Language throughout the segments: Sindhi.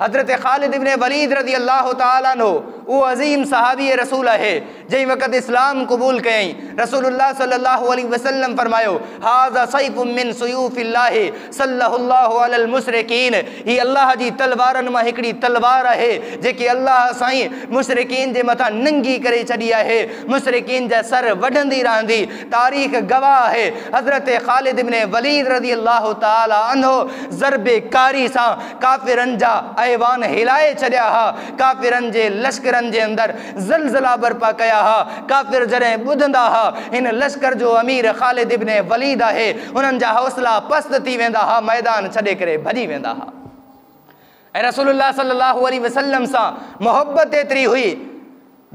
حضرت خالد ابن وليد رضي الله تعالٰي عنه اهو عظيم صحابي رسول آهي، جنهن وقت اسلام قبول ڪيائين، رسول الله صلّي الله عليه وسلّم فرمايو، هٰذا سيف من سيوف الله سلّه الله علي المشرڪين، هي الله جي تلوارن مان هڪڙي تلوار آهي، جيڪي الله سائين مشرڪين جي مٿان ننگي ڪري ڇڏي آهي، مشرڪين جا سر وڍندي رهندي. تاريخ گواهه آهي حضرت خالد بن وليد رضي الله تعالٰي عنه ضرب ڪاري سان ڪافرن جا ايوان هلائي ڇڏيا ها، ڪافرن جي لشڪرن جي اندر زلزلا برپا ڪيا ها، ڪافر جڏهن ٻڌندا ها هن لشڪر جو امير خالد بن وليد آهي انهن جا حوصلا پست ٿي ويندا ها ميدان ڇڏي ڪري ڀڄي ويندا ها. ۽ رسول الله صلي الله عليه وسلم سان محبت ايتري هئي،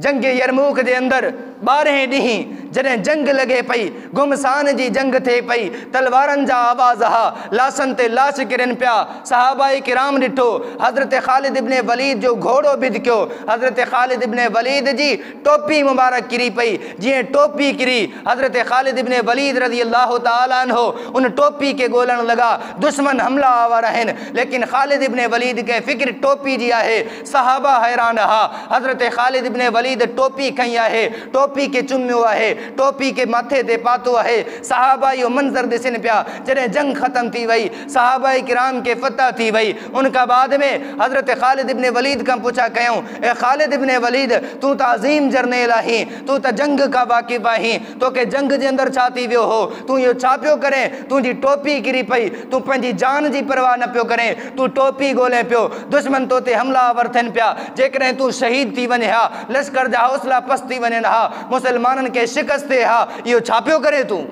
جنگ يرموڪ جي اندر ٻارهين ڏينهن جڏهن جنگ لڳي پئي، گهمسان جي جنگ ٿئي پئي، تلوارن جا آواز ها، لاشن تي لاش ڪرين پيا، صحابه ڪرام ڏٺو، حضرت خالد ابن وليد جو گهوڙو بڌڪيو، حضرت خالد ابن وليد جي ٽوپي مبارڪ ڪري پئي، جيئن ٽوپي ڪري، حضرت خالد ابن وليد رضي الله تعالٰي عنه ان ٽوپي کي ڳولڻ لڳا، دشمن حمله آور آهن، ليڪن خالد ابن وليد کي فڪر ٽوپي جي آهي، صحابه حيران رها، حضرت خالد ابن وليد ٽوپي کنئي آهي، ٽوپي کي چميو آهي، ٽوپي کي مٿي تي پاتو آهي، صحابه اهو منظر ڏسن پيا، جڏهن جنگ ختم ٿي وئي، صحابه ڪرام کي فتح ٿي وئي، ان کان بعد ۾ حضرت خالد ابن وليد کان پڇا ڪيائون. اي خالد ابن وليد! تون ته عظيم جرنيل آهين، تون ته جنگ کان واقف آهين، توکي جنگ جي اندر ڇا ٿي ويو هو؟ تون اهو ڇا پيو ڪرين؟ تنهنجي ٽوپي ڪري پئي، تون پنهنجي جان جي پرواهه نه پيو ڪرين، تون ٽوپي ڳولين پيو، دشمن تو تي حملا آور ٿين پيا، جيڪڏهن تون شهيد ٿي وڃين ها، لشڪر جا حوصلا پست ٿي وڃن ها، مسلمانن کي شڪست ٿئي ها، اهو ڇا پيو ڪرين تون؟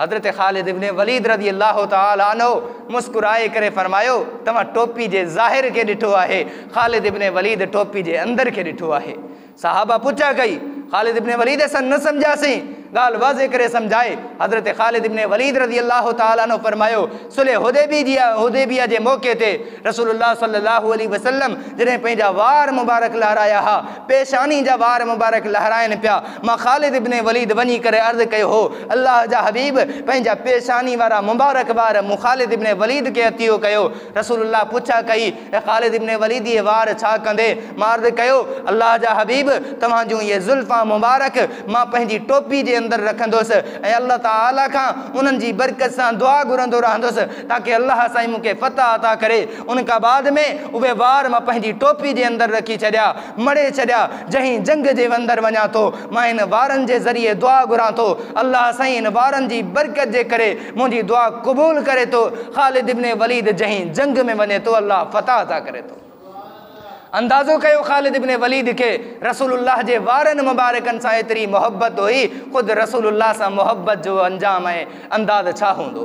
حضرت خالد ابن وليد رضي الله تعالٰي عنه مسڪرائي ڪري فرمايو، توهان ٽوپي جي ظاهر کي ڏٺو آهي، خالد ابن وليد ٽوپي جي اندر کي ڏٺو آهي. صحابه پڇا ڪئي، خالد ابن وليد اسان نه سمجهياسين، ڳالهه واضح ڪري سمجهائي، حضرت خالد ابن وليد رضي الله تعالٰي عنه فرمايو، صلح حديبيه جي موقعي تي رسول الله صلي الله عليه وسلم جڏهن پنهنجا وار مبارڪ لهرايا ها، پيشاني جا وار مبارڪ لهرائن پيا، مان خالد بن وليد وڃي ڪري عرض ڪيو هو، الله جا حبيب! پنهنجا پيشاني وارا مبارڪ وار مون خالد بن وليد کي عطيو ڪيو. رسول الله پڇا ڪئي. اي خالد ابن وليد اهي وار ڇا ڪندي مارد ڪيو؟ الله جا حبيب! توهان جون اهي زلفان مبارڪ مان پنهنجي ٽوپي جي اندر رکندس ۽ الله تعالي کان انهن جي برڪت سان دعا گهرندو رهندس تاڪه الله سائين مون کي فتح عطا ڪري. ان کان بعد ۾ اهي وار مان پنهنجي ٽوپي جي اندر رکي ڇڏيا. مڙهي ڇڏيا. جنهن جنگ جي وندر وڃان ٿو مان هن وارن جي ذريعي دعا گهران ٿو الله سائين هن وارن جي برڪت جي ڪري منهنجي دعا قبول ڪري ٿو خالد ابن وليد جنهن جنگ ۾ وڃي ٿو الله فتح عطا ڪري ٿو اندازو ڪيو خالد ابن وليد کي رسول الله جي وارن مبارڪن سان ايتري محبت هئي خود رسول الله سان محبت جو انجام ۽ انداز ڇا هوندو